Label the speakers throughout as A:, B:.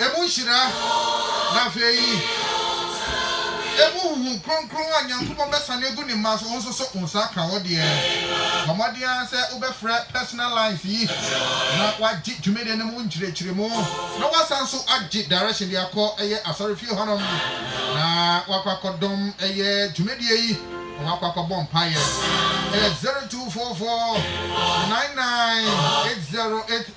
A: Emu nhyira, na afei emu huhum kronkron a Nyankopɔn bɛsane agu ne mma so, wo nso so wo nsa aka wo deɛ. Bɔ mmɔden ara sɛ wobɛfrɛ personal lines yi na wagye dwumadie no mu nkyerɛkyerɛmu na wasan nso agye direction de akɔ ɛyɛ asɔrefie hɔ nom na wakɔ akɔdɔm ɛyɛ dwumadie yi na wakɔ akɔbɔ mpaeɛ. Ɛyɛ 0244 998080.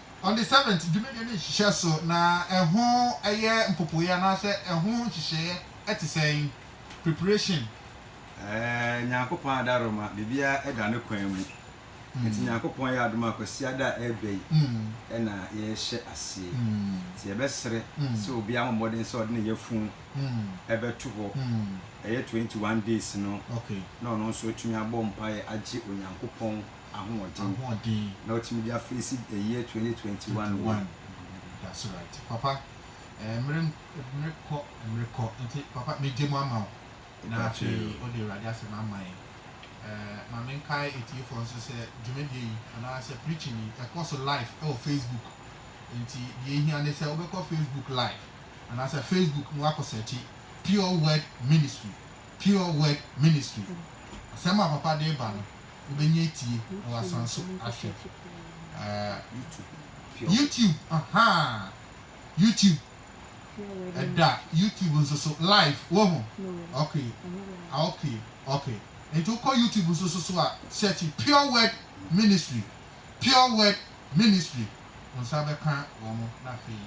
A: On the seventh, dwumadie no nhyehyɛ so na ɛho yɛ mpopoeɛ anaasɛ ɛho nhyehyɛeɛ te sɛn? Preparation. Ɛɛ,
B: Nyankopɔn adaroma, biribiara da ne kwan mu. Nti Nyankopɔn yɛ adom a, Kwasiada a ɛreba yi na yɛrehyɛ aseɛ. Nti yɛbɛsrɛ sɛ obiara mmɔ mmɔden sɛ ɔde ne yafunu bɛto hɔ, ɛyɛ twenty one days no, na ɔno nso
A: atumi
B: abɔ mpaeɛ agye Onyankopɔn ahoɔden na watumi de afeesi the year twenty twenty one wei. That's
A: right papa eh, mmere mmere kɔ mmere kɔ nti papa megye mu ama wo na afei wode awurade asɛm ama yɛn eh, ma menkae atiefoɔ nso sɛ dwumadie yi anaa sɛ preaching yi ɛkɔ so live ɛwɔ facebook nti deɛ ɛhia ne sɛ wobɛkɔ facebook live anaa sɛ facebook na wakɔ sɛkye pure word ministry pure word ministry asɛm a papa de ba no wobɛnya atie na woasan so ahwɛ ɛɛ YouTube ahaa YouTube ɛda YouTube nso so live woho ok ok ok nti wokɔ YouTube nso so so a search pure word ministry pure word ministry wo nsa bɛka wɔn na afei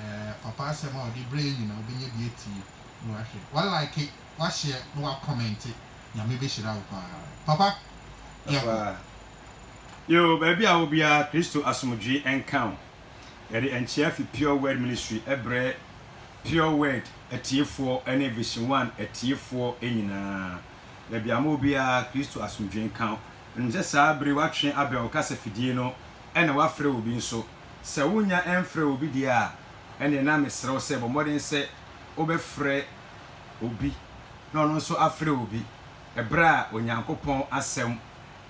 A: ɛɛ papa asɛm a ɔde brɛ yɛn nyinaa wobɛnya bi atie na wahwɛ wa like w'ahyɛ na wa kɔmɛnte nyame bɛ hyira wo paa
B: papa yɛ kɔ. Yoo baabi a wɔ biara Kristo asomdwee nka wo. Yɛde nkyea fi Pure Word Ministry brɛ Pure Word atiefoɔ ne Vision One atiefoɔ nyinaa. Baabi a mowɔ biara Kristo asomdwee nka wo. Menim sɛ saa bere yi woatwe abɛn wo kasa fidie no na woafrɛ obi nso. Sɛ wonnya mfrɛɛ obi deɛ a, ɛnneɛ na mesrɛ wo sɛ bɔ mmɔden sɛ wobɛfrɛ obi na ɔno nso afrɛ obi ɛberɛ a Onyankopɔn asɛm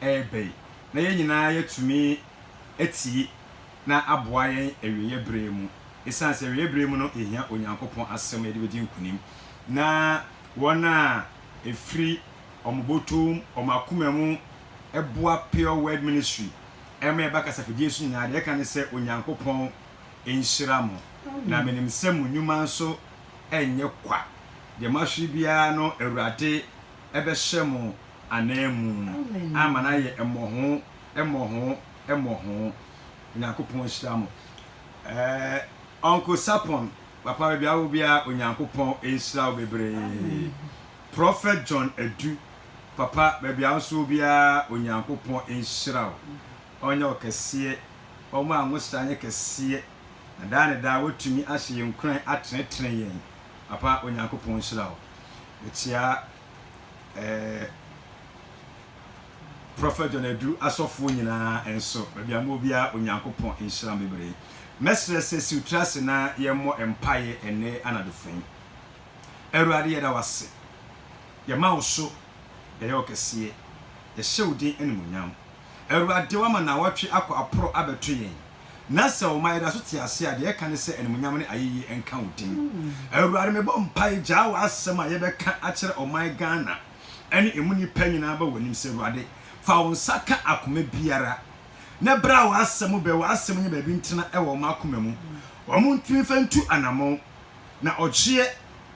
B: reba yi na yɛn nyinaa yɛatumi atie na aboa yɛn awieɛ berɛ mu ɛsiane sɛ awieɛ berɛ mu no yɛhia Onyankopɔn asɛm na yɛde bɛdi nkunim na wɔn a ɛfiri wɔn bɔtɔm wɔn akoma mu boa Pure Word Ministry ɛma ɛba kasafidie so nyinaa deɛ ɛka ne sɛ Onyankopɔn nhyira mo na menim sɛ mo nnwuma nso ɛnyɛ kwa, deɛ moahwere biara no Awurade bɛhyɛ mo ananmu ama no ayɛ mmɔho, mmɔho, mmɔho. Onyankopɔn nhyira mo. Eh, Uncle Sapon, papa baabi a wowɔ biara, Onyankopɔn nhyira wo bebree. Prophet John Adu, papa baabi a wo nso wɔ biara, Onyankopɔn nhyira wo. Ɔnyɛ wo kɛseɛ, ɔma a nwosra nyɛ kɛseɛ. Na daa ne daa watumi ahyɛ yɛn nkuran atenetene yɛn. Papa, Onyankopɔn nhyira wo. Mekyea eh, Prɔfɛt John Adu asɔfoɔ nyinaa nso, baabi a mowɔ biara, Onyankopɔn nhyira mo bebree. Mɛsrɛ sɛ siw tiri ase na yɛmmɔ mpaeɛ ɛnnɛ anadofo yi. Awurade, yɛda wo ase. Yɛma wo so, yɛyɛ wo kɛseɛ. Yɛhyɛ wo din animuonyam. Awurade, woama nnawɔtwe akɔ aporo abɛto yɛn, na sɛ ɔma yɛda so te ase a, deɛ ɛka ne sɛ animuonyam ne ayeyie nka wo din. Awurade, mebɔ mpae, gyaa w'asɛm a yɛbɛka akyerɛ ɔman Ghana ne ɛmu nnipa nyinaa ba w'anim sɛ, Awurade, fa wo nsa ka akoma biara, na bra w'asɛm bɛ, w'asɛm nyɛ baabi ntena wɔ wɔn akoma mu, wɔn ntumi mfa ntu anamɔn, na ɔgyeɛ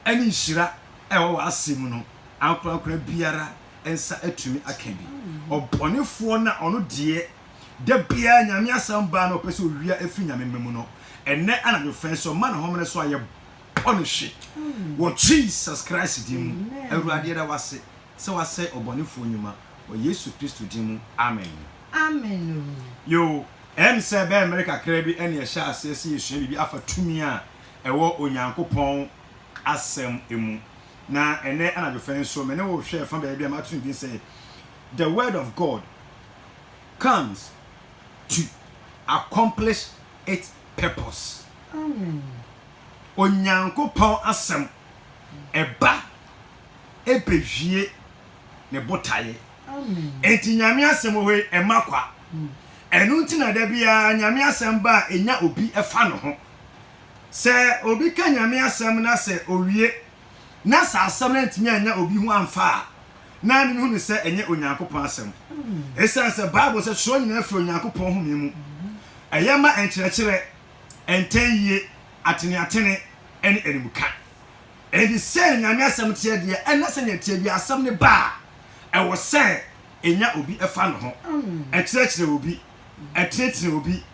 B: ne nhyira a ɛwɔ w'asɛm mu no, ankorankora biara nsa atumi aka bi. Ɔbɔnefoɔ no a ɔno deɛ da biara Nyame asɛm baa na ɔpɛ sɛ owia afiri Nyame mma mu no, ɛnnɛ anadwo fɛn sɛ ɔma ne homene so a yɛbɔ no hwe wɔ Jesus Christ din mu. Awurade yɛda wo ase sɛ woasɛe ɔbɔnefoɔ nnwuma wɔ Yesu Kristo din mu, amen.
C: Yoo,
B: ɛyɛ me sɛ ɛbɛyɛ mmere kakra bi na yɛhyɛ aseɛ sɛ yɛsua biribi afa tumi a ɛwɔ Onyankopɔn asɛm mu. Na ɛnnɛ anadwo fã yi nso, me ne wo rehwɛ ɛfã baabi a mato no din sɛ, The Word of God Comes to Accomplish Its Purpose. Onyankopɔn Asɛm, ɛba bewie ne botaeɛ. Enti
C: Nyame Asɛm
B: wɔ hɔ yi, ɛmma kwa. Ɛno nti na da biara Nyame Asɛm ba a, ɛnya obi fa ne ho. Sɛ obi ka Nyame asɛm na sɛ owie na sɛ asɛm no antumi annya obi ho amfa a, na ne hu ne sɛ ɛnyɛ Onyankopɔn asɛm. Esiane sɛ Bible sɛ twerɛ nyinaa firi Onyankopɔn home mu, ɛyɛ ma nkyerɛkyerɛ, ntɛnyie, ateneatene, ne animka. Enti sei na Nyame asɛm teɛ deɛ, ɛnna sɛnea ɛteɛ biara asɛm no ba a, ɛwɔ sɛ ɛnya obi fa ne ho, ɛkyerɛkyerɛ obi, ɛtenetene obi,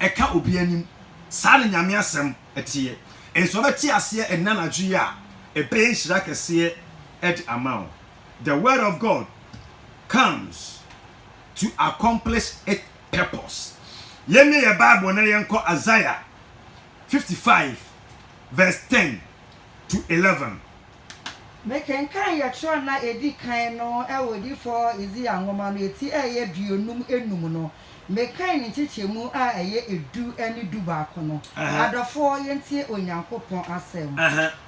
B: ɛka obi anim. Saa na Nyame asɛm teɛ. Nso wobɛte aseɛ ɛnnɛ anadwo yi a, ɛbɛyɛ nhyira kɛseɛ de ama wo. The word of God comes to accomplish it purpose. Yɛmmie yɛ Bible na yɛnkɔ Isaiah 55 verse 10 to 11.
C: Mekenkan yɛ twerɛ nna edi kan no wɔ Odiyifɔɔ Isaiah nwoma no eti a ɛyɛ aduonum enum no. Mekan ne nkyekyɛmu a ɛyɛ edu ne du baako no. Adɔfoɔ, yɛntie Onyankopɔn asɛm.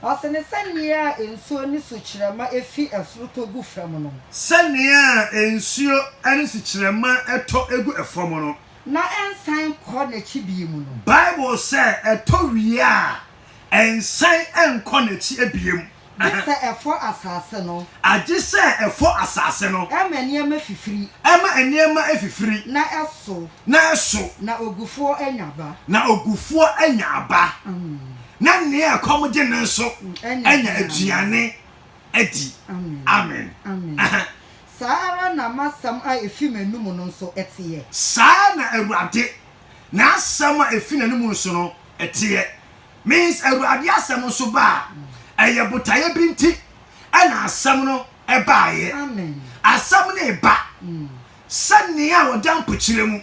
C: Ɔse ne sɛnea a nsuo ne sukyerɛma fi soro tɔ gu fam no. Sɛnea a
B: nsuo ne sukyerɛma tɔ gu fam no. Na ɛnsan
C: nkɔ n'akyi bio mu no. Bible sɛ
B: ɛtɔ wie a Ɛnsan nkɔ n'akyi abiem. Gye sɛ ɛfɔ
C: asase no. Agye sɛ ɛfɔ
B: asase no. Ɛma nneɛma fifiri.
C: Ɛma nneɛma
B: fifiri. Na ɛso.
C: Na ɛso. Na
B: ogufoɔ anya
C: aba. Na ogufoɔ anya aba.
B: Na nea ɛkɔm gye no nso anya aduane adi. Amen. Amen.
C: Saa ara na m'asɛm a efi m'anom no nso teɛ. Saa na
B: Awurade N'asɛm a efi n'anom nso no, ɛteɛ. Means Awurade asɛm nso ba a, ɛyɛ botaeɛ bi nti ɛna asɛm no baeɛ.
C: Asɛm no reba
B: mm. sɛ nea ɔda mpokyerɛ mu.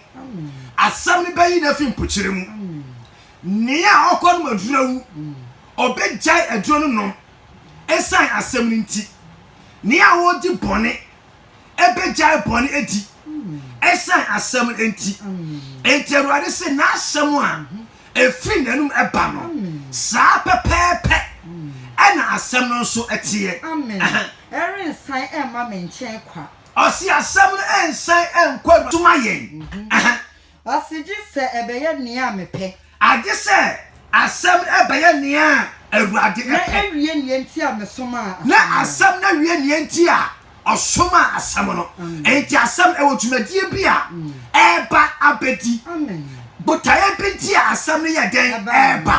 B: Asɛm
C: no bɛyi
B: no afi mpokyerɛ mu. Nea ɔkɔ nom aduro awu, mm. ɔbɛgyae aduro no nom ɛsan asɛm no nti. Nea ɔdi bɔne ɛbɛgyae bɔne adi ɛsiane asɛm no nti. Enti Awurade se n'asɛm a ɛfiri n'anum ɛba no, saa pɛpɛɛpɛ ɛna asɛm no nso ɛteɛ. Amen.
C: Ɛrensan ɛmma me nkyɛn kwa. Ɔse asɛm
B: no ɛnsan ɛnkɔ Awurade so ma yɛn. Ase
C: gye sɛ ɛbɛyɛ nea mepɛ. Agye sɛ
B: asɛm no ɛbɛyɛ nea Awurade pɛ. Na awie nea
C: nti a mesomaa asɛm no. Na asɛm no
B: awie nea nti a ɔsomaa asɛm no. Enti asɛm, ɛwɔ dwumadie bi a ɛreba abɛdi.
C: Botaeɛ bi nti
B: a asɛm no yɛ dɛn? Ɛreba.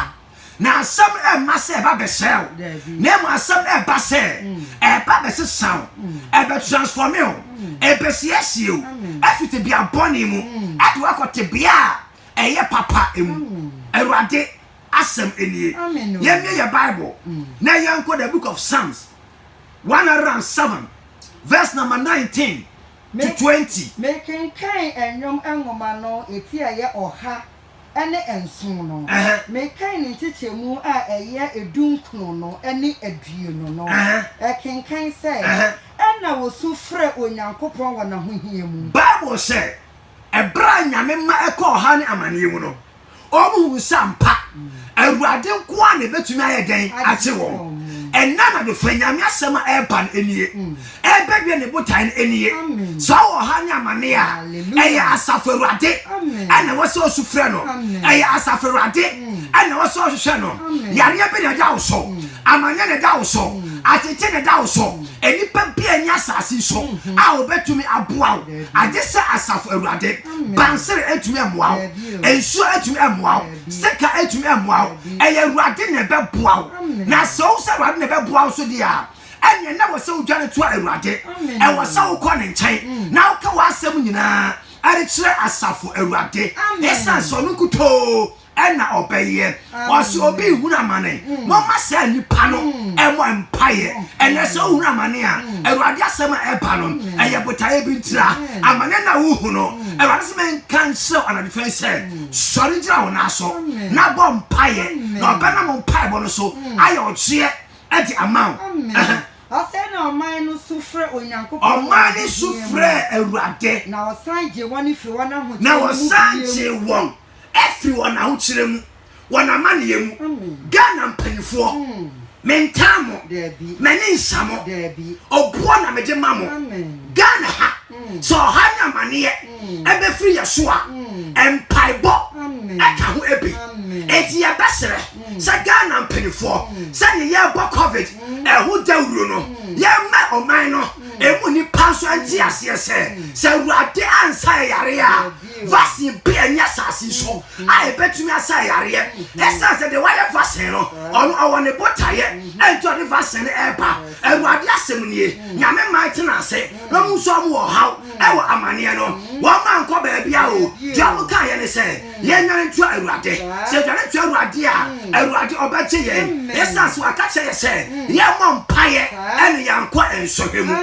B: na asɛm no ɛmma sɛ ɛba bɛsɛe wo na mmom asɛm no ɛba sɛ mm. ɛba bɛsesa wo mm. ɛbɛ transforme wo mm. ɛbɛsiesie wo ɛfiri tebea bɔne mu ɛde wakɔ tebea a ɛyɛ papa mu awurade asɛm nie yɛmmie yɛ bible na yɛnkɔ the book of psalms 107 verse number 19
C: to 20 mekenkan nnwom nwoma no ɛti
B: ɛyɛ
C: ɔha ne nson no, mekan ne nkyekyɛmu a ɛyɛ edunkron no ne aduonu no. Ɛkenkan sɛ, Ɛnna wɔsu frɛɛ Onyankopɔn wɔ n'ahohia mu. Bible sɛ,
D: Bere a Nyame ma ɛkɔɔ ɔhaw ne amaneɛ mu no, wɔhuu sɛ ampa Awurade nko ara na ɛbɛtumi ayɛ dɛn agye wɔn. Ɛnnɛ anadwo, fa Nyame asɛm a ɛreba no nie. Ɛrebɛwie ne botae no nie. Sɛ ɔwɔ ɔhaw ne amanneɛ a, ɛyɛ Asafo Awurade ɛna ɛwɔ sɛ ɔsu frɛ no. Ɛyɛ Asafo Awurade ɛna ɛwɔ sɛ ɔhwehwɛ no. Yareɛ bi na ɛda wo so, amanneɛ na ɛda wo so, atete na ɛda wo so. Nnipa bi a ɛnyɛ asase so a wɔbɛtumi aboa wo, agye sɛ Asafo Awurade. Bansere ɛntumi ɛmmoa wo, nsuo ɛntumi ɛmmoa wo, sika ɛntumi ɛmmoa wo. Ɛyɛ Awurade na ɛbɛboa wo. Na sɛ wohu sɛ Awurade na ɛbɛboa wo nso deɛ a, ɛneɛ na wɔ sɛ wodwane to awurade ɛwɔ sɛ wokɔ ne nkyɛn na woka w'asɛm nyinaa ɛde kyerɛ asafo awurade ɛsiane sɛ ɔno nkutoo ɛna ɔbɛyɛ ɔsɛ obi hunu amane mm. mɔma saa nipa no mm. ɛmɔ mpaeɛ mm. ɛnɛ sɛ wohunu amane a awurade asɛm a ɛba no ɛyɛ botaeɛ bi ntira amane na wohunu awurade sɛ menka nkyerɛ anadwofɛn sɛ sɔre gyina wo naa so na bɔ mpaeɛ na ɔbɛnam mpaebɔ no so ayɛ ɔgyeɛ Ɛde ama wo. Amen. Afei
C: na ɔman no su frɛ Onyankopɔn wɔ Ɔman no su ahoteɛ mu.
D: frɛɛ Awurade, Na ɔsan gyee
C: wɔn firi wɔn ahokyerɛ na no mu wɔsan bio. gyee
D: wɔn firi wɔn ahokyerɛ mu, wɔn amaneɛ mu. Amen. Ghana mpanimfoɔ, Mm. mentaa mo, Daabi. m'ani nsa mo, Daabi. ɔboɔ na mede ma mo. Amen. Ghana ha, Mm. sɛ ɔhaw ne amaneɛ Mm. ɛbɛfiri yɛn so a, Mm. mpaebɔ Amen. ɛka ho bi. Amen. Enti yɛbɛsrɛ. sɛ Ghana mpanimfoɔ sɛdeɛ yɛrebɔ covid ɛho dawuro no yɛmmɛ ɔman no ɛmu nipa nso nte aseɛ sɛ sɛ awurade ansa ɛyareɛ a vaccine bi ɛnyɛ asase so a ɛbɛtumi asa ɛyareɛ ɛsiane sɛ deɛ wayɛ vaccine no ɔno ɔwɔ ne botaeɛ ɛnti ɔde vaccine no ɛreba awurade asɛm nie nyame mman tena ase na ɔmu nso ɔmu wɔ haw ɛwɔ amaneɛ no wɔn ankɔ baabi a o deɛ ɔmo kaeɛ ne sɛ yɛn nyane ntua awurade sɛ yɛdwane ntua awurade a mm. awurade ɔbɛgye yɛn ɛsan sɛ waka kyerɛ yɛ sɛ mm. yɛmmɔ mpaeɛ ɛne yɛnkɔ nsɔhwɛ mu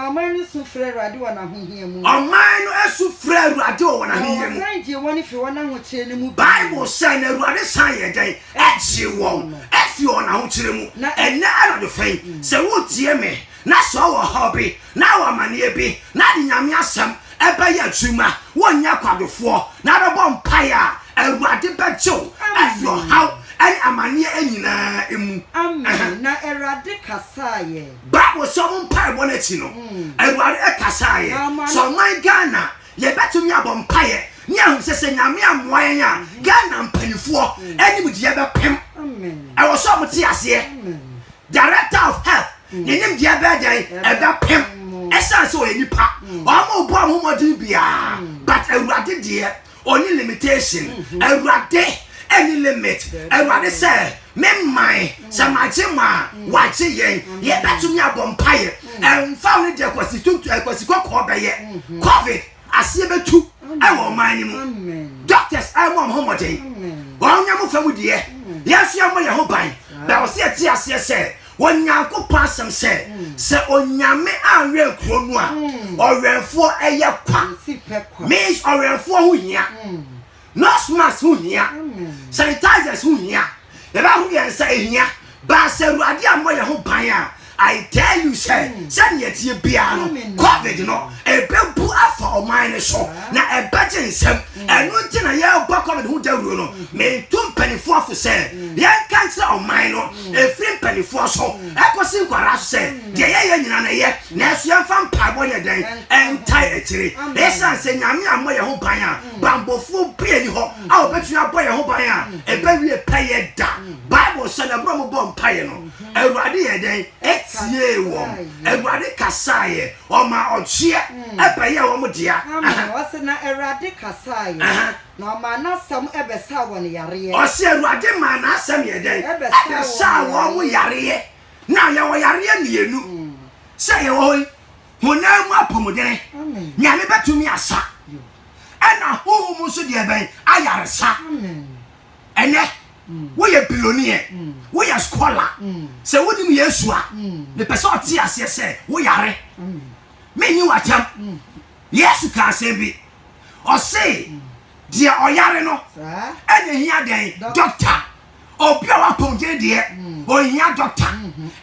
C: ɔman no su frɛ awurade wɔ n'ahohia mu ɔman no su
D: frɛ awurade wɔ wɔn ahohia mu ɔsan gyee wɔn firi wɔn
C: ahokyerɛ no mu bible sɛ na
D: awurade san yɛ dɛn ɛgyee wɔn ɛfiri wɔn ahokyerɛ mu ɛnɛ anadwo fɛn mm. sɛ wotie me na sɛ ɔwɔ ɔhaw bi, na ɔwɔ amaneɛ bi, na ɔde Nyame asɛm bɛyɛ adwuma, wonyɛ kwadofoɔ, na wobɛbɔ mpaeɛ a, Awurade bɛgye wo afiri ɔhaw ne amaneɛ nyina ara mu. Amen, na
C: Awurade kasaaɛ. Bible sɛ ɔmo
D: mpaebɔ no akyi no, Awurade kasaeɛ. Sɛ ɔman Ghana Yɛbɛtumi abɔ mpaeɛ ne ahunu sɛ sɛ Nyame ammoa yɛn a, Ghana mpaninfoɔ animdeɛ bɛpem. Ɛwɔ sɛ wɔte aseɛ. Director of Health, ne nimdeɛ bɛyɛ dɛn? Ɛbɛpem. Ɛsiane sɛ ɔyɛ nipa, wɔrebɔ wɔn ho mmɔden biara, but Awurade deɛ, ɔnni limitation. Awurade nni limit. Awurade sɛ, Me man, sɛ magye mo a, wɔagye yɛn. Yɛbɛtumi abɔ mpaeɛ. Ɛmfa wo ne deɛ kwasi tuntum, eh, kwasi kɔkɔɔ bɛyɛ. Covid aseɛ bɛtu wɔ ɔman no mu. Doctors ɛrebɔ wɔn ho mmɔden. Wɔnyɛ mo fa mu deɛ. Yɛn nso yɛmmɔ yɛn ho ban. Bɛn wɔ sɛ yɛte aseɛ sɛ Onyankopɔn asɛm sɛ, sɛ Onyame anwɛn kuro no a, ɔwɛnfoɔ yɛ kwa. Means ɔwɛnfoɔ ho hia. Nose mask ho hia, sanitizers ho hia, yɛbɛ ho yɛn nsa ehia, baasa awurade ammɔ yɛn ho ban a, I tell you sɛ, hmm. sɛdeɛ ɛteɛ biara no, covid no, ɛbɛbu afa ɔman no so, na ɛbɛgye nsɛm, hmm. ɛno nti na yɛrebɔ covid ho dawuro no, hmm. meto mpanimfoɔ fo sɛ, yɛnka nkyerɛ ɔman no, ɛfiri mpanimfoɔ so, ɛkɔsi nkwadaa so sɛ, deɛ yɛyɛ nyina no yɛ, nanso yɛmfa mpaebɔ nyɛ dɛn, ɛntae akyire, ɛsiane sɛ nyame ammɔ yɛn ho ban a, bammɔfoɔ biara nni hɔ a wɔbɛtumi abɔ yɛn ho ban a ɛbɛwie pɛyɛ da. Bible sɛ na berɛ a wɔbɔɔ mpaeɛ no, Awurade yɛɛ dɛn? Ɛtiee wɔn. Awurade kasaeɛ. Ɔmaa ɔgyeɛ ɛbɛyɛɛ wɔn dea. Amen. Ɔse na
C: Awurade kasaeɛ, na ɔmaa n'asɛm ɛbɛsaa wɔn yareɛ. Ɔse Awurade maa
D: n'asɛm yɛɛ dɛn? Ɛbɛsaa wɔn yareɛ. Now yɛwɔ yareɛ mmienu sɛ yɛwɔ hɔ yi. honam mu apɔmuden nyame bɛtumi asa ɛna honhom mu nso deɛ bɛn ayaresa ɛnɛ mm. woyɛ biloniɛ mm. woyɛ skɔla mm. sɛ wonim yesu a mepɛ sɛ ɔte aseɛ sɛ woyare menyi watam yesu ka asɛm bi ɔse deɛ ɔyare no ɛna hia dɛn dɔkta obi a wapɔn gyeni deɛ ohia dɔkta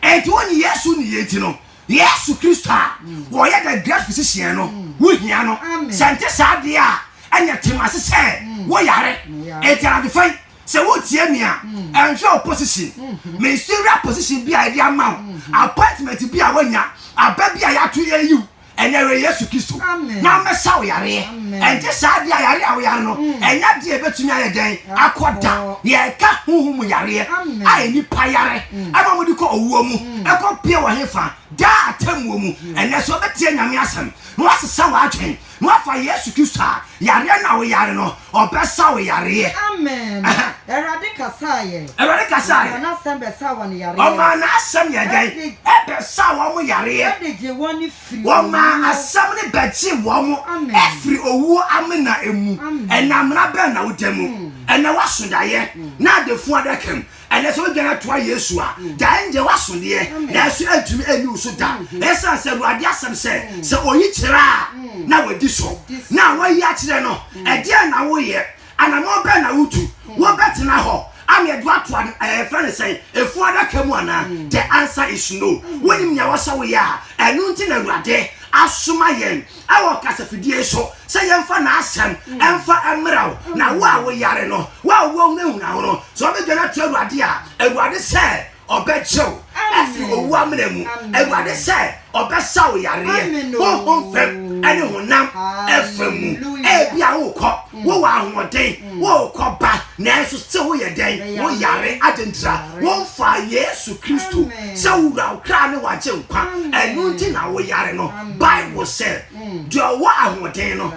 D: enti wonyi yesu ne yɛ nti no yesu kristo a wɔyɛ the great physician no wohia no sɛ nte saa deɛ a ɛnyɛ tem ase sɛ woyare enti anadwofa yi sɛ wotie me a ɛnhwɛ wo position ministerial position bi a ɛde ama wo appointment bi a woanya aba bi a yɛato yɛyiw Ɛnɛ wɔ Yesu Kristo na ɔmmɛsa wo yareɛ. Ɛnte saa deɛ a yareɛ a woyare no, mm. ɛnyɛ adeɛ a ɛbɛtumi ayɛ dɛn akɔ da. Yɛreka honhom mu yareɛ a nnipa yare mm. ɛma wɔde kɔ owuo mu mm. ɛkɔ pie wɔ hefa daa atemmuo mu. Ɛnɛ sɛ wobɛtie Nyame asɛm na woasesa w'adwen na woafa Yesu Kristo a yareɛ na woyare no Ɔbɛsa wo yareɛ. Amen Ɛhɛn.
C: Awurade kasaa yɛ. Awurade kasaa yɛ. Ɔmaa
D: n'asɛm bɛsaa wɔn
C: yareɛ. Ɔmaa n'asɛm yɛ
D: dɛn? Ɛde. Ɛbɛsaa wɔn yareɛ. Ɛde gyee wɔn
C: firi owuo. Ɔmaa asɛm
D: no bɛgyee wɔn. Amen. Afiri owuo amena mu. Amen. Ɛnam mmara bɛn na woda mu? Hmm. Ɛnɛ w'asodayɛ. Hmm. N'adefo adaka mu. Ɛnɛ sɛ wodwane toa Yesu a, gya ɛndeɛ woaso deɛ, nanso ɛntumi ɛnni wo so da. Ɛsiane sɛ Awurade asɛm sɛ, sɛ oyi kyerɛ a, na wadi so. Na a woayi akyerɛ no, ɛdeɛn na woyɛ? Anammɔn bɛn na wotu? Wobɛtena hɔ a na ɛde wo ato ad ɛɛ yɛfrɛ no sɛn, efunu adaka mu anaa? The answer is no. Wonim nea ɛwɔ sɛ woyɛ a, ɛno nti na Awurade asoma yɛn. wɔ kasafidie so sɛ yɛmfa n'asɛm ɛmfa mmra wo na wo a woyare no wo a woahunahuna wo no sɛ wobɛdwane ato awurade a awurade sɛ ɔbɛgye wo afiri owu amena mu awurade sɛ ɔbɛsa wo yareɛ honhom fam ɛne honam ɛfa mu ebi a wokɔ wowɔ ahoɔden wokɔ ba nanso sɛ woyɛ dɛn woyare adentira womfa yesu kristo sɛ wowura wo kra ne wagye nkwa ɛno nti na woyare no Bible se, Deɛ ɔwɔ ahoɔden no,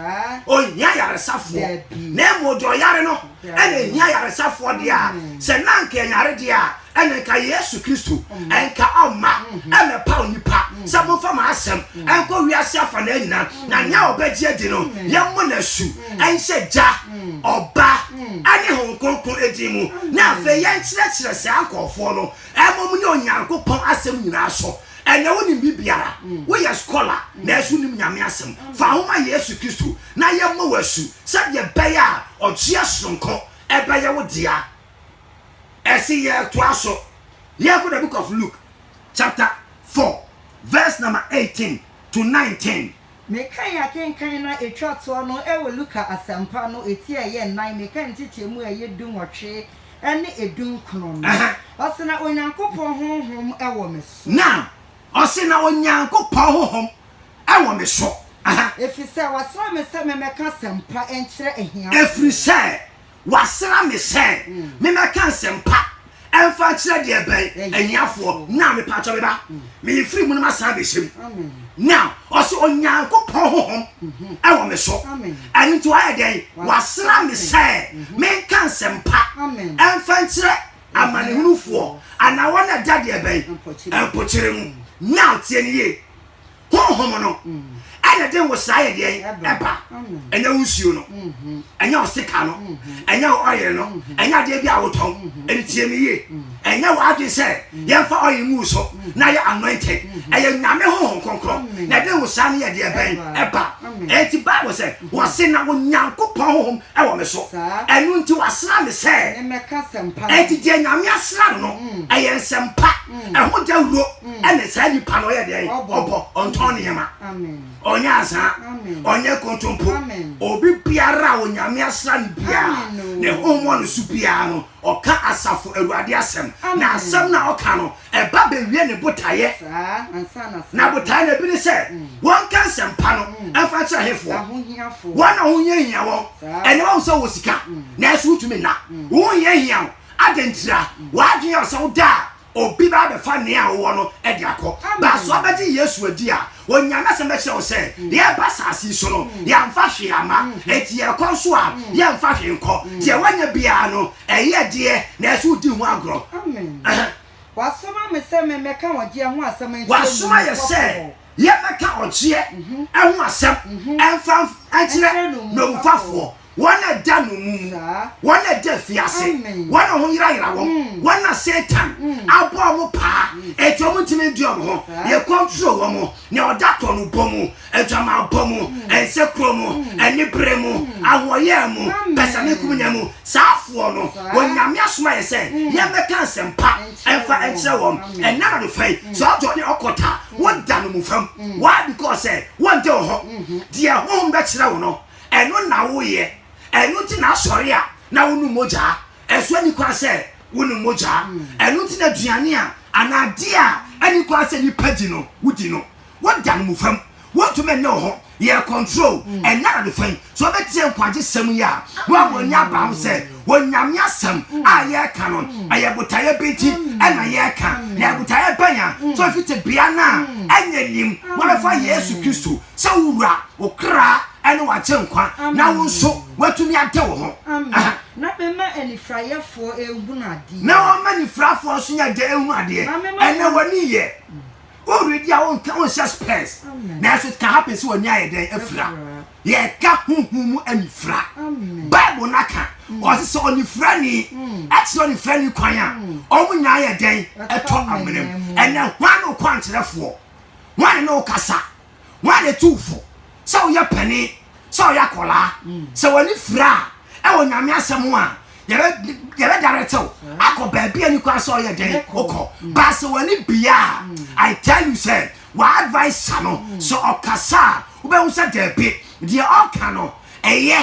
D: ɔnhia ayaresafoɔ, na mmom deɛ ɔyare no na ɛhia ayaresafoɔ deɛ a, sɛ na anka ɛnyare deɛ a, ɛne nka Yesu Kristo ɛnka ɔmma ɛmɛpa onipa sɛ momfa mo asɛm ɛnkɔ wiase afanaa nyina, na nea ɔbɛgye adi no, yɛmmɔ no asu nhyɛ Gya, Ɔba, ɛne Honhom Kronkron edin mu, na afei yɛnkyerɛkyerɛ saa nkurɔfoɔ no, mmom ne Onyankopɔn asɛm nyinaa so. Ɛnyɛ wonim biribiara, woyɛ skɔla, nanso wonim Nyame Asɛm. Fa wo ho ma Yesu Kristo na yɛmmɔ wo asu sɛdeɛ ɛbɛyɛ a ɔgyeɛ sononko bɛyɛ wo dea. Ɛse yɛtoa so yɛnkɔ the book of Luke chapter four verse number eighteen to nineteen. Mekan
C: akenkan na etwa toɔ no wɔ Luka Asɛmpa no eti a ɛyɛ nnan, mekan nkyekyɛmu a ɛyɛ du nwɔtwe ne edu nkron no. Ɔse na Onyankopɔn Honhom wɔ me so. Na, ɔse
D: na Onyankopɔn Honhom wɔ me so. Ɛfiri sɛ,
C: wasra me sɛ memmɛka asɛmpa nkyerɛ ahiafoɔ. Ɛfiri sɛ,
D: Wɔasra me sɛ memmɛka nsɛmpa mfa nkyerɛ deɛ ɛbɛn ahiafoɔ. Now, mepatwɔ me ba, meyɛ firi mu no masan abɛhyɛ mu. Now, ɔse Onyankopɔn honhom mm-hmm. ɛwɔ me so. Ɛno nti wayɛ dɛn? Wasra me sɛ mm-hmm. menka nsɛmpa mfa nkyerɛ amanehunufoɔ anaa wɔn ɛda deɛ ɛbɛn mpokyere mu. Now, tie ne yie. honhom no ɛna de nwosra yɛ deɛ ɛba ɛnyɛ wo nsuo no ɛnyɛ wo sika no ɛnyɛ wo ɔyere no ɛnyɛ adeɛ bi a wotɔn ɛne tie me yie ɛnyɛ wo adwene sɛ yɛmfa ɔyere ngu so na yɛ anointed ɛyɛ nyame honhom kronkron na ɛde nwosra no yɛ deɛ bɛn ɛba ɛnti bible sɛ wɔse na onyankopɔn honhom ɛwɔ me so ɛno nti wasra me sɛ
C: ɛnti deɛ nyame
D: asra no no ɛyɛ nsɛmpa ɛho dawuro mm. ɛne saa nipa no ɔyɛ deɛ ɔbɔ ɔntɔn nneɛma ɔnyɛ
C: azaa
D: ɔnyɛ kontompo obi biara a onyame asra no biara ne homɔ no so biara no ɔka asafo awurade asɛm na asɛm na ɔka no ɛba bɛwie ne botaeɛ na botaeɛ na ebi ne sɛ mm. wɔnka nsɛmpa no mm. ɛmfa kyerɛ hefoɔ wɔn a wohia hia wɔn ɛne wɔn sɛ wɔ sika nanso wotumi nna wohia hia wo adɛntira wɔadwene ɔsɛ woda a obi bɛba abɛfa nea wowɔ no de akɔ. Baa sɛ wobɛgye Yesu adi a, Onyaa n'Asɛm bɛkyerɛ wo sɛ, deɛ ɛreba asase yi so no, yɛamfa hwee amma. Enti deɛ ɛrekɔ nso a, yɛmfa hwee nkɔ. Deɛ woanya biara no, ɛyɛ ɛdeɛ, nanso wodi ho agorɔ. Amen.
C: Wasoma me sɛ memmɛka ɔgyeɛ ho asɛm nkyerɛ nnwuma pɔfoɔ. Wasoma yɛn sɛ
D: yɛmmɛka ɔgyeɛ ho asɛm mfa nkyerɛ nnwomfafoɔ. wɔn a ɛda nnommum mu, wɔn a ɛda afiase, wɔn a wɔyerayera wɔn, mm. wɔn a Satan mm. abɔ wɔn paa, eti wɔn ntumi ndi wɔn ho, yɛ kɔntro wɔn, nea ɔda korɔ no bɔ mu, adwamabɔ mu, mm. nsekuro mu, anibere mu, ahoɔyɛ mu, pɛsɛmenkomunya mu, saa afoɔ no, wɔn nyame asoma yɛ sɛ, yɛmmɛka nsɛmpa ɛmfa nkyerɛ wɔn, ɛnna na do fɛn, sɛ ɔdɔ ne ɔkɔta, wɔda no mu fam, why because sɛ wɔn de wɔn ho, deɛ honhom bɛkyerɛ wɔn no, Ɛno na woyɛ. Ɛno nti na asɔre a, na wonom mogya. Ɛso nni kwan sɛ wonom mogya. Ɛno nti na aduane a, anaa adeɛ a ɛnni kwan sɛ nnipa di no, wodi no. Woda no mmofra mu. Wontumi nne wo ho. Yɛ control. Ɛnyɛ ade fã yi. Sɛ wobɛtie nkwagye sɛm yi a, na woama w'ani aba ho sɛ Onyame asɛm a yɛka no, ɛyɛ botaeɛ bɛ nti ɛna yɛka, na ɛyɛ botaeɛ bɛn a, sɛ ofi tebea no a ɛnyɛ nim, wobɛfa Yesu Kristo sɛ wo Wura, wo kra ne w'agyenkwa, na wo nso woatumi ade wo ho. Amen. Na mɛma
C: anifrayɛfoɔ ahunu adeɛ. Na wɔma anifrafoɔ
D: nso nyɛ dɛ hunu adeɛ. Ɛnɛ w'ani yɛ. Woredi a wonka wonhyɛ spɛs. Nanso it can happen sɛ w'ani ayɛ dɛn afira. yɛka honhom mu anifira bible no aka ɔse sɛ ɔnifirani ɛkyerɛ ɔnifirani kwan a ɔmo nyinaa yɛ dɛn ɛtɔ amena mu ɛnɛ hwan ne ɔkwankyerɛfoɔ hwan ne ne wo kasa hwan ne tu fo sɛ woyɛ pani sɛ woyɛ akɔlaa sɛ wɔne fira a ɛwɔ nyame asɛm a yɛbɛ daretew akɔ baabi a nikwa sɛ ɔyɛ dɛn wokɔ baasɛ wɔne bia i tell you sɛ W'adviser no, sɛ ɔkasa a, wobɛhu sɛ dabi, deɛ ɔka no ɛyɛ,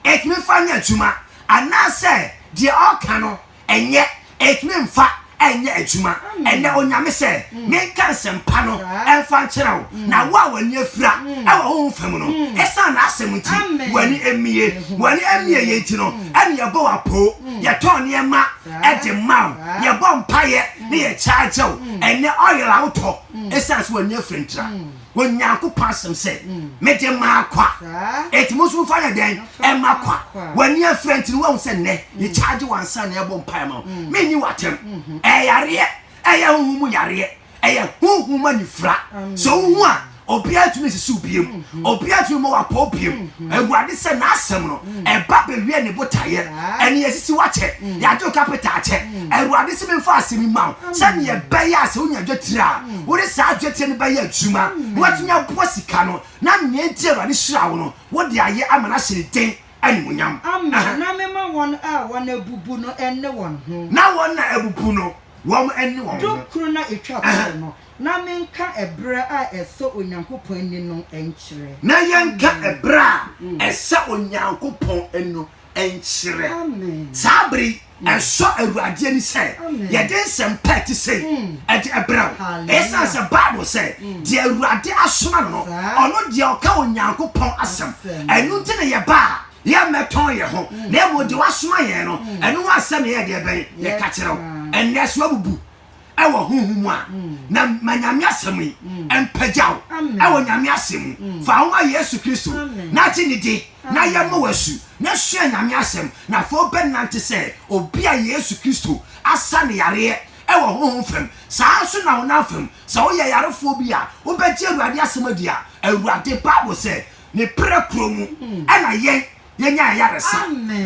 D: ɛtumi mfa nyɛ adwuma, anaasɛ deɛ ɔka no ɛnyɛ, ɛtumi mfa ɛnyɛ adwuma. Ɛnɛ Onyame sɛ menka nsɛmpa no ɛmfa nkyerɛ wo, na wo a w'ani afira ɛwɔ honhom fam no, ɛsiane n'asɛm nti, w'ani ɛmmie. W'ani ɛmmie yɛ nti no, ɛne yɛbɔ wo apoo, yɛtɔn nneɛma ɛde ma wo, yɛbɔ mpaeɛ ne yɛ charge wo. Ɛnɛ oil a wotɔ, ɛsiane mm. sɛ wɔani afiri ntra mm. onyankopɔn asɛm sɛ mm. mede maa kwa ɛti mo nso mofa yɛ dɛn ɛma kwa wɔani afiri nti no wahu sɛ nnɛ yɛkyaagye wansa na ɛbɔ mpae ma wo menni watɛm mm-hmm. ɛyareɛ ɛyɛ honhom mu yareɛ ɛyɛ honhom mu anifira sɛ wohu a obiara tumi sisi obiam mm-hmm. obiara tumi ma wapɔ obiam mm-hmm. awurade sɛ n'asɛm no ɛba bɛwie ne botaeɛ, ɛne asisi wo akyɛ, yɛagye wo kapita akyɛ. Awurade se memfa asɛm yi ma wo sɛdeɛ ɛbɛyɛ a sɛ wonya dwetire a, wode saa dwetire no bɛyɛ adwuma na woatumi aboa sika no, na nea enti a Awurade hyiraa wo no, wode ayɛ ama no ahyɛ ne din animuonyam. Amen, na mema
C: wɔn a wɔn abubu no nne wɔn ho. Na wɔn a abubu
D: no, wɔn nne wɔn ho. Dukron a ɛtwa toɔ
C: no. na menka ɛberɛ a ɛsɔ Onyankopɔn ani no nkyerɛ. Na yɛnka
D: ɛberɛ a ɛsɔ Onyankopɔn ani no nkyerɛ. Saa
C: berɛ yi,
D: ɛsɔ Awurade ani sɛ yɛde nsɛmpa a ɛte sei de brɛ wo. Ɛsiane sɛ Bible sɛ, Deɛ Awurade asoma no no, ɔno deɛ ɔka Onyankopɔn asɛm. Ɛno nti na yɛba a, yɛmmɛtɔn yɛn ho, na mmom deɛ wasoma yɛn no, ɛno ho asɛm na yɛyɛ deɛ bɛn? Yɛka kyerɛ wo. Ɛnnɛ, sɛ woabubu. ɛwɔ honhom mu a na ma nyame asɛm yi mpagya wo ɛwɔ nyame asɛm mu fa wo ma yesu kristo na gye ne di na yɛ ma wasu na sua nyame asɛm na afei wobɛnante sɛ obi a yesu kristo asa ne yareɛ ɛwɔ honhom fam saa nso na honam fam sɛ woyɛ yarefoɔ bi a wobɛgye awurade asɛm adi a awurade bible sɛ ne prɛ kuro mu ɛna yɛn yɛnya ayaresa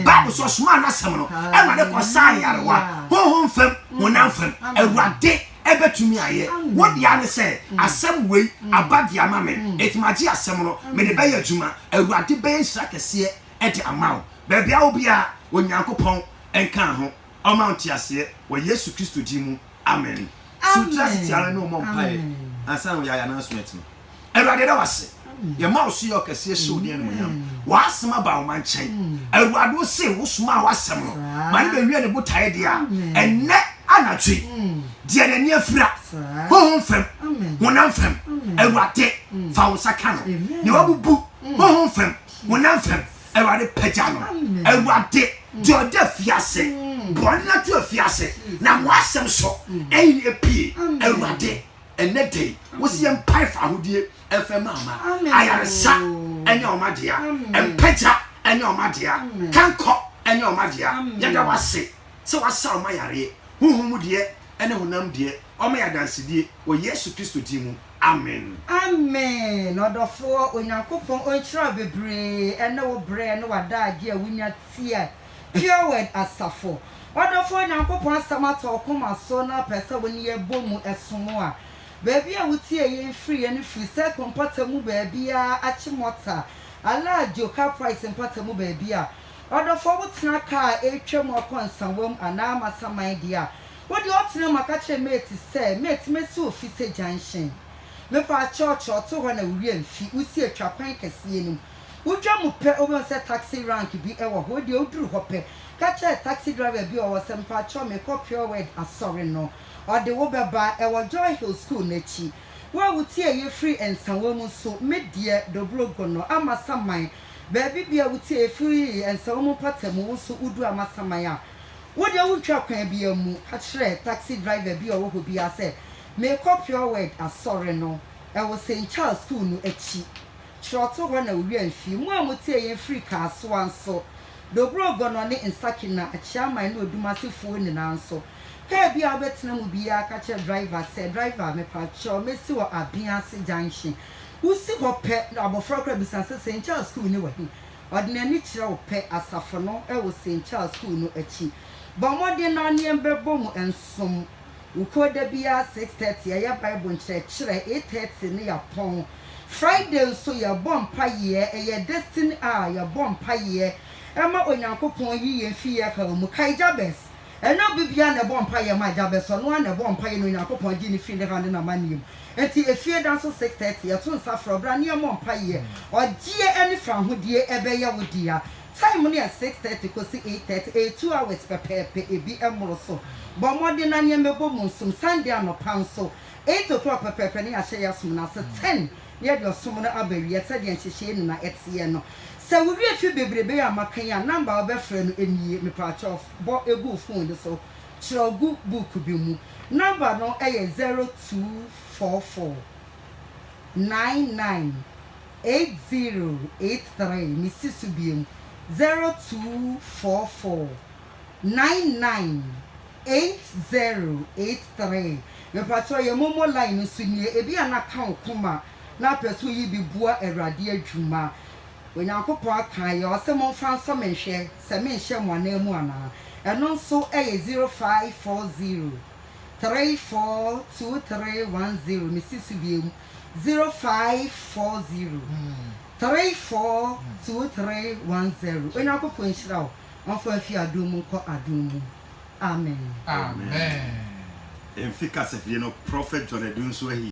D: bible sɛ ɔsomaa n'asɛm no awurade kɔsa ayarewa honhom fam honam fam awurade ɛbɛtumi ayɛ wodeɛ ne sɛ asɛm wei aba de ama me ɛtumagye asɛm no mede bɛyɛ adwuma awurade bɛyɛ nhyira kɛseɛ ɛde ama wo baabi a wo biara onyankopɔn nka ho ɔma nteaseɛ wɔ yesu kristo din mu Amen. So wote ase te ara ne ɔmmɔ mpaeɛ ansa na wɔde ayɛ announcement no? Awurade yɛda wase. Yɛma wo so yɛ ɔkɛseɛ hyɛ wo din animuonyam. W'asɛm aba wo ma nkyɛn. Awurade wo se wosomaa w'asɛm no ma ne bɛwie ne botaeɛ deɛ a ɛnnɛ anadwo yi deɛ n'ani afira honhom fam honam fam Awurade fa wo nsa ka no deɛ wabubu honhom fam honam fam Awurade pagya no. Awurade deɛ ɔde afiase bɔne ato afiase na mo asɛm so ɛyin epie. Awurade ɛnɛ da yi wosi yɛ mpae fa ahodie ɛfɛ maama ayaresa ɛnyɛ wɔn adea mpagya ɛnyɛ wɔn adea kankɔ ɛnyɛ wɔn adea yɛda wase sɛ wasa wɔn ayareɛ huhu mu deɛ ɛne honam deɛ wɔn yɛ adansedie wɔ Yesu Kristo din mu. Amen. Amen
C: ɔdɔfoɔ Onyankopɔn ɔnhyira wo bebree ɛne wo berɛ ne w'adagyeɛ a wonya tie Pure Word asafo. Ɔdɔfoɔ Onyankopɔn asɛm atɔ wo koma so na wopɛ sɛ wo ne yɛn bɔ mu som a, baabi a wotie yɛn firiɛ no firi Circle mpɔtam mu baabiara, Achimota, Alaadjo, Caprice mpɔtam mu baabi a. Ɔdɔfoɔ wotena car a ɛretwam akɔ Nsawam anaa Masaman deɛ a, Wo deɛ ɔtena mu a ka kyerɛ mate sɛ mate mɛsi ofi sɛ junction me paa kyɛw kyɛw to hɔ na wo wia mfi wo sie twa kwan kɛseɛ no mu wo dwa mu pɛ wo bɛhu sɛ taxi rank bi wɔ hɔ wo deɛ wo duru hɔ pɛ ka kyerɛ taxi driver bi ɔwɔ sɛ mpa kyɛw me kɔ pure word asɔre no ɔde wo bɛba ɛwɔ joy hill school no akyi wo a wo ti ɛyɛ firi nsawa mu nso me deɛ dobro gono amasaman baabi biara wo ti ɛyɛ firi nsawa mu mpata mu wo nso wo duru amasaman a Wo deɛ wontwa kwan biara mmu. Ka kyerɛ taxi driver bi a ɔwɔ hɔ biara sɛ, Merekɔ Pure Word asɔre no. Ɛwɔ St. Charles Sukuu no akyi. Kyerɛwtohɔ na Owia mfie. Mo a motie yɛn firi Kasoa nso, Dobrog Gonno ne Nsakina, Akyeaman ne Odumasefoɔ nyinaa nso, kaa biara a wobɛtena mu biara ka kyerɛ driver sɛ, Driver, mepakyɛw, mɛsi wɔ Abease Junction. Wosi hɔ pɛ na abɔfra koraa bisa sɛ, St. Charles Sukuu no wɔ he? Ɔde n'ani kyerɛ wo pɛ asafo no wɔ St. Charles Sukuu no akyi. Bɔ mmɔden na wo ne yɛn bɛbɔ mu nsom wo kuo da biara six thirty yɛyɛ Bible nkyerɛkyerɛ, eight thirty no yɛapɔn. Friday nso yɛbɔ mpaeɛ, ɛyɛ Destiny Hour, yɛbɔ mpaeɛ ma Onyankopɔn yi yɛn fi yɛn haw mu. Kae Jabes Ɛnyɛ obi biara na ɛbɔ mpaeɛ ma agya bɛsɔ, ɛno ara na ɛbɔɔ mpaeɛ na Onyankopɔn gyee no firii ne haw ne n'amanneɛ mu. Enti efie da nso six thirty yɛto nsa frɛ wo bra na yɛmmɔ mpaeɛ. Ɔgyeɛ ne fawohodie ɛbɛyɛ wo dea. Time no yɛ six thirty kɔsi eight thirty, ɛyɛ two hours pɛpɛɛpɛ, ɛbi mmoro so. Bɔ mmɔden na nneɛma ɛbɔ mu nsom. Sunday anɔpa nso eight o'clock pɛpɛɛpɛ na yɛahyɛ yɛn som no ase, ten Yɛde ɔsom no aba awiɛ sɛdeɛ nhyehyɛɛ nyina ɛteɛ no. Sɛ wo wie firi bebrebe yi a maka yi a, number a wo bɛfrɛ no nie, mepaakyɛw bɔ gu wo phone no so, kyerɛw gu book bi mu. Number no yɛ zero two four four nine nine eight zero eight three, me si so biom, zero two four four nine nine Eight zero eight three mpakyɛw yɛ momo line no so nie ebi a na ka wo koma na apɛ sɛ woyi bi boa awurade adwuma onyankopɔn aka ayɛ ɔse monfa nsɔ me nhwɛ sɛ menhyɛ mo anan mu anaa ɛno nso ɛyɛ zero five four zero three four two three one zero mesi so bie mu zero five four zero three four two three one zero onyankopɔn nhyira wo ɔmfa mfi adom mu nkɔ adom mu. Amen.
D: Amen.
A: Mfi
D: kasafie no Prophet John Adunsu ahi.